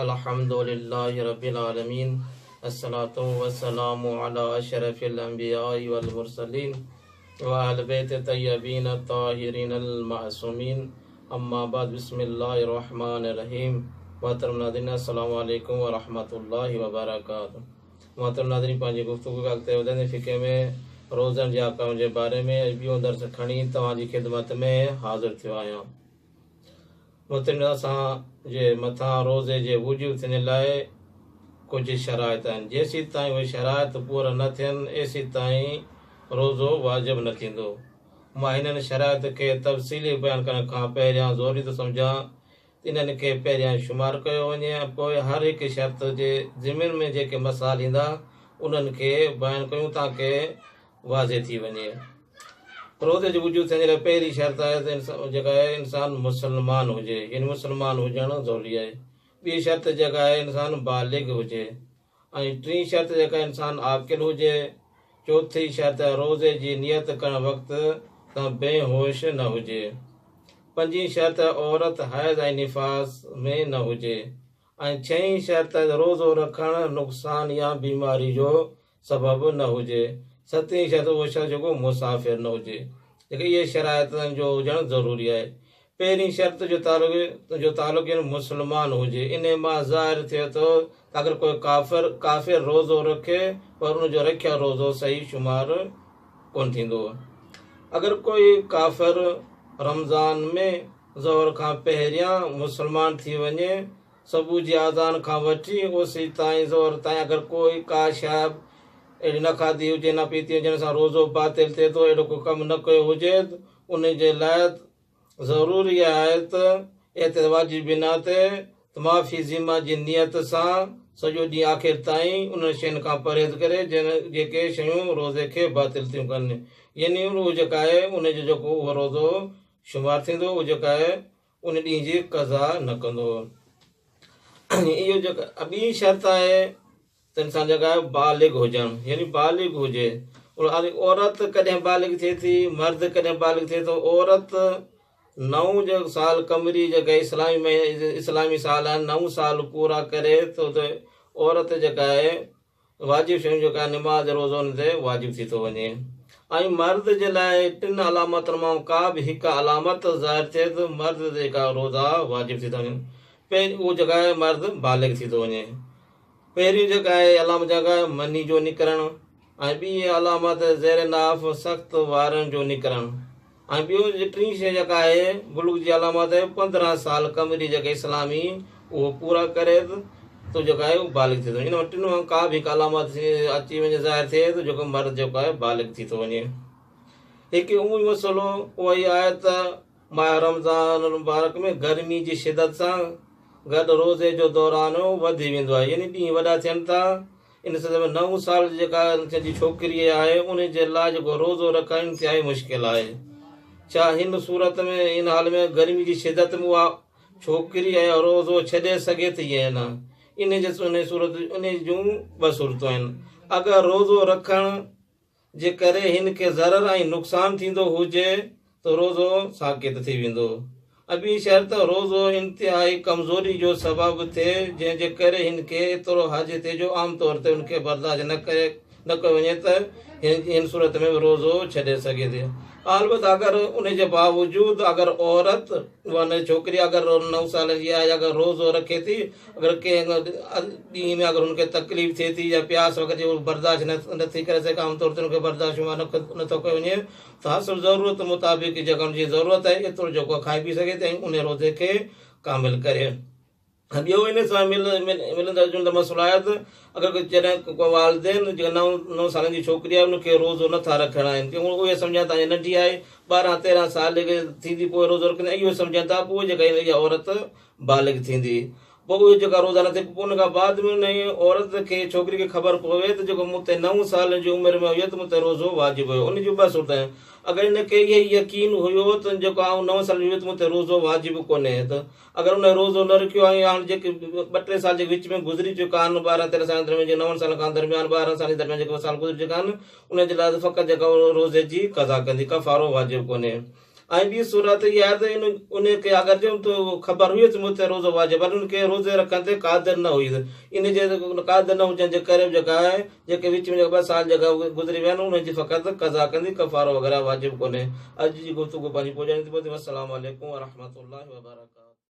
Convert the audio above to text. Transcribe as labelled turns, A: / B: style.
A: الحمد لله رب العالمين الصلوة والسلام علي اشرف الانبياء والمرسلين واهل بيت الطيبين الطاهرين المعصومين اما بعد بسم الله الرحمن الرحيم محترم ناظرين السلام عليكم ورحمة الله وبرڪاته محترم ناظرين پنهنجي گفتگو کي اڳتي وڌائيندي فقه ۾ روزن جي احڪام جي باري ۾ اڄ ٻيون درس کڻي توهان جي خدمت ۾ حاضر ٿيو آهيان مٿن اسان جي مٿان روزي جي وجوب ٿيندي لاء ڪجهه شرائط آهن، جيسيتائين اهي شرائط پورا نه ٿين ايسيتائين روزو واجب نه ٿيندو. مان هنن شرائط کي تفصيلي بيان ڪرڻ کان پهريان ضروري ٿو سمجهان ته انهن کي پهريان شمار ڪيو وڃي ۽ پوء هر هڪ شرط جي ضمن ۾ جيڪي مسائل ايندا انهن کي بيان ڪيون تانڪه واضح ٿي وڃي. پروڌ جي وجود ٿيڻ جي لاء پهرين شرط آهي ته انسان جيڪا آهي انسان مسلمان هجي يعني مسلمان هجڻ ضروري آهي. ٻي شرط جيڪا آهي انسان بالغ هجي ۽ ٽين شرط جيڪا آهي انسان عاقل هجي. چوٿين شرط آهي روزي جي نيت ڪرڻ وقت تان بي هوش نه هجي. پنجين شرط آهي عورت حيض ۽ نفاس ۾ نه هجي ۽ ڇهين شرط آهي ته روزو رکڻ نقصان يا بيماري جو سبب نه هجي. ستين شرط اهو شخص جيڪو مسافر نه هجي. جيڪي اهي شرائط آهن جو هجڻ ضروري آهي. پهرين شرط جو تعلق جو تعلق يعنيٰ مسلمان هجي. انهي مان ظاهر ٿئي ٿو ته اگر ڪو ڪافر ڪافر روزو رکي پر ان جو رکيل روزو صحيح شمار ڪونه ٿيندو. اگر ڪو ڪافر رمضان ۾ ظهر کان پهريان مسلمان ٿي وڃي. صبح جي آذان کان وٺي اوسي تائين ظهر تائين اگر ڪو ڪا شيء اهڙي نه کاڌي هجي نه پيتي هجي جنهن سان روزو باطل ٿئي ٿو اهڙو ڪو ڪم نه ڪيو هجي ان جي لاء ضروري آهي ته اهتي واجب بنا تي ته معافي ذمه جي نيت سان سڄو ڏينهن آخر تائين انهن شين کان پرهيز ڪري جيڪي شيون روزي کي باطل ٿيون ڪن يعني اهو جيڪا آهي ان جو جيڪو اهو روزو شمار ٿيندو اهو جيڪا آهي ان ڏينهن جي قضا نه ڪندو. اهو جيڪا ٻي شرط آهي ته انسان جيڪا بالغ هجڻ يعني بالغ هجي ان عورت ڪڏهن بالغ ٿئي ٿي مرد ڪڏهن بالغ ٿئي ٿو عورت نو جو سال قمري جيڪا اسلامي اسلامي سال آهن نو سال پورا ڪري ٿو ته عورت جيڪا آهي واجب شين جو ڪا نماز روزو ان تي واجب ٿي ٿو وڃي ۽ مرد جي لاء ٽن علامتن مان ڪا به هڪ علامت ظاهر ٿئي ته مرد تي جيڪا روزا واجب ٿي ٿا وڃن پهرين اهو جيڪا آهي مرد بالغ ٿي ٿو وڃي پهريون جيڪا آهي علامت جيڪا آهي مني جو نڪرڻ ۽ ٻي علامت زير ناف سخت وارن جو نڪرڻ ۽ ٻيو جي ٽين شيء جيڪا آهي بلوغ جي علامات آهي پندرهن سال ڪمري جيڪا اسلامي اهو پورا ڪري ته تو جيڪو آهي اهو بالغ ٿي ٿو وڃي ان ٽنهون مان ڪا به هڪ علامات اچي وڃي ظاهر ٿئي ته جيڪو مرد جيڪو آهي بالغ ٿي ٿو وڃي هڪ اهو ئي مسئلو اهو ئي آهي ته ماهه رمضان المبارڪ ۾ گرمي جي شدت سان گڏ روزي جو دوران وڌي ويندو آهي يعني ڏينهن وڏا ٿين ٿا ان سلسلي ۾ نو سال جي جيڪا انهن جي ڇوڪري آهي انهي جي لاء جيڪو روزو رکڻ انتهائي مشڪل آهي ڇا هن صورت ۾ ان حال ۾ گرمي جي شدت ۾ اها ڇوڪري اهي روزو ڇڏي سگهي ٿي يا نه انهي جي انهي صورت انهي جون ٻه صورتون آهن اگر روزو رکڻ جي ڪري هن کي ضرر ۽ نقصان ٿيندو هجي ته روزو ساقط ٿي ويندو. ابي شرط روزو انتهائي ڪمزوري جو سبب ٿئي جنهن جي ڪري هن کي ايترو حاجي ٿئي جو عام طور تي ان کي برداشت نه ڪري نه ڪيو وڃي ته هن جي هن صورت ۾ به روزو ڇڏي سگهي ٿي البت اگر ان جي باوجود اگر عورت ورنه ڇوڪري اگر نو سالن جي آهي اگر روزو رکي ٿي اگر ڪنهن ڏينهن ۾ اگر هن کي تڪليف ٿئي ٿي يا پياس وغيره جي هو برداشت نه ٿي ڪري سگهي عام طور تي هن کي برداشت شمار نه ٿو ڪيو وڃي ته هر صبح ضرورت مطابق جيڪا هن جي ضرورت آهي ايترو جيڪو کائي پي سگهي ٿي ۽ ان روزي کي ڪامل ڪري ۽ ٻيو ان سان ملندڙ جلندڙ مسئلو آهي ته اگر جڏهن ڪو والدين جيڪا نو نو سالن جي ڇوڪري آهي ان کي روزو نٿا رکڻ آهن ڪيون اهي سمجهن ٿا ننڍي آهي ٻارهن تيرهن سال جيڪي ٿيندي پوء روزو رکندي اهو سمجهن ٿا پوء جيڪا اها عورت بالغ ٿيندي پوء اهي جيڪا روزا نٿي پوء ان کان بعد ۾ انهيء عورت کي، ڇوڪري کي، خبر پوي ته جيڪو مون تي نو سالن جي عمر ۾ هيت مون تي روزو واجب هيو. ان جون ٻه صورتون، اگر ان کي اهو يقين هيو ته جيڪو آئون نو سالن جو هيت مون تي روزو واجب ڪونهي هيت اگر انهيء روزو نه رکيو آهي يا هاڻ جيڪي ٻه ٽي سال جيڪي وچ ۾ گذري چڪا آهن ٻارهن تيرهن سالن جي درميان جيڪي نون سالن کان درميان ٻارهن سالن جي درميان جيڪي سال گذري چڪا آهن انهيء جي لاء ته فقط جيڪا عورت روزي جي قضا ڪندي ڪفارو واجب ڪونهي. ۽ ٻي صورت اها آهي ته ان ان کي اگر جو تو خبر هئي ته مون تي روزو واجب آهي پر ان کي روزي رکڻ تي قادر نه هئي ان جي قادر نه هجڻ جي ڪري جيڪا آهي جيڪي وچ ۾ جيڪا ٻه سال جيڪا گذري ويا آهن ان جي فقط قضا ڪندي ڪفارو وغيره واجب ڪونهي اڄ جي گفتگو پنهنجي پڄاڻي تي پهتي والسلام عليڪم ورحمة الله وبرڪاته